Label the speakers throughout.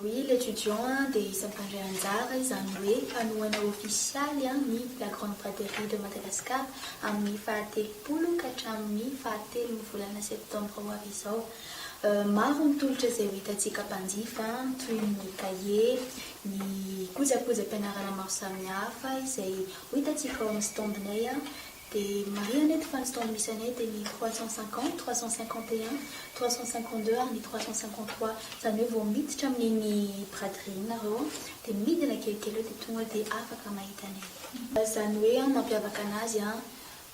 Speaker 1: Oui, l'étudiant a dia isan'ny mpandray anjara, izany hoe mpanohana ofisialy ny La Grande Braderie de Madagascar amin'ny fahatelopolo ka hatramin'ny fahatelon'ny volana septambra ho avy izao. Maro ny tolotra izay ho hitantsika mpanjifa, toy ny kahie, ny kojakojam-pianarana maro samihafa izay Ho hita tsy vao amin'ny stand-nay aho dia marihana eto fa ny stand misy anay dia ny trois cent cinquante, trois cent cinquante et un, trois cent cinquante deux ary ny trois cent cinquante trois. Izany hoe vao miditra amin'iny braderie iny nareo dia midina kelikely eo dia tonga dia afaka mahita anay. Izany hoe mampiavaka anazy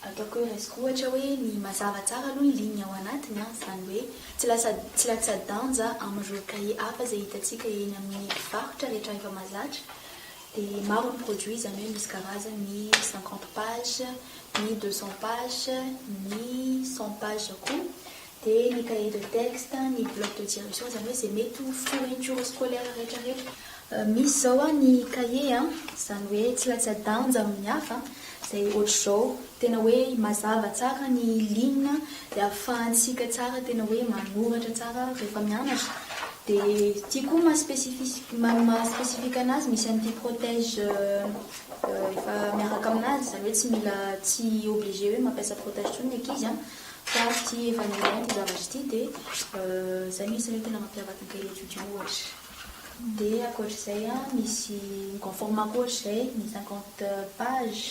Speaker 1: Ataoko hoe raisiko ohatra hoe ny mazava tsara aloha ny ligne ao anatiny an, izany hoe tsy lasa tsy latsa-danja amin'ireo cahier hafa izay hitantsika eny amin'ny mpivarotra rehetra rehefa mahazatra dia maro ny produit izany hoe misy karazany ny cinquante page, ny deux cents page, ny cent page koa. dia ny cahier de texte, ny bloc de direction, izany hoe izay mety ho fourniture scolaire rehetrarehetra. Misy izao an, ny cahier an, izany hoe tsy latsa-danja amin'ny hafa, izay ohatr'izao, tena hoe mazava tsara ny ligne dia ahafahantsika tsara tena hoe manoratra tsara rehefa mianatra. Dia ity koa maha specifique, maha maha specifique anazy, misy an'ity protège efa miaraka aminazy, izany hoe tsy mila, tsy obligé hoe mampiasa protège intsony ny ankizy an. Fa tsy evangelien ity zavatra ity dia izay mihitsy no tena mampiavaka ny tele étudiant ohatra. Dia ankoatr'izay a, misy mi-conforme-ako ohatra izay ny cinquante pages,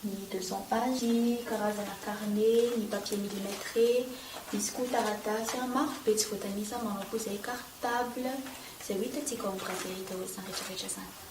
Speaker 1: ny deux cents pages, ny karazana carnet, ny papier millimetré, misy koa taratasy a, maro be tsy voatanisa, manao koa izay cartable, izay ho hitantsika ao amin'ny gazety ao izany rehetra rehetra izany.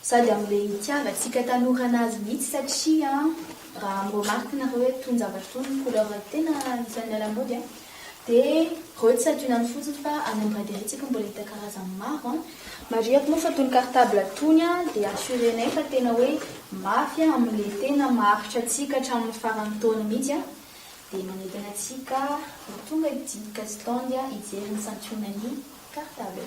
Speaker 1: Sady amle itiavantsika tanora anazy mihitsy satria raha mi-remarque nareo hoe tony zavatra tony ny couleur tena anisan'ny miala mody a! de reo tsy adinony fotsiny fa any amin'ny braderie tsika mbola hita karazany maro a! Marihiko moa fa tony cartable tony a de assurenay fa tena hoe mafy amle tena maharitra antsika hatramin'ny faran'ny taona mihitsy a! de manentana antsika ho tonga aty Kazitande hijery ny santionan'ny cartable.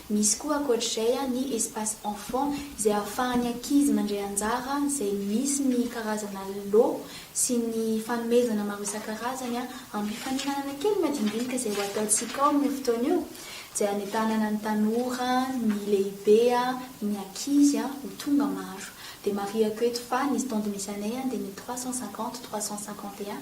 Speaker 1: Misy koa ankoatr'izay ny espace enfant izay ahafahan'ny ankizy mandray anjara izay misy ny karazana lot sy ny fanomezana maro isan-karazany ampifaninanana kely madinidinika izay ho ataontsika ao amin'io fotoana io izay hanentanana ny tanora, ny lehibe, ny ankizy ho tonga maro. Dia marihako eto fa ny stand misy anay dia ny trois cent cinquante, trois cent cinquante et un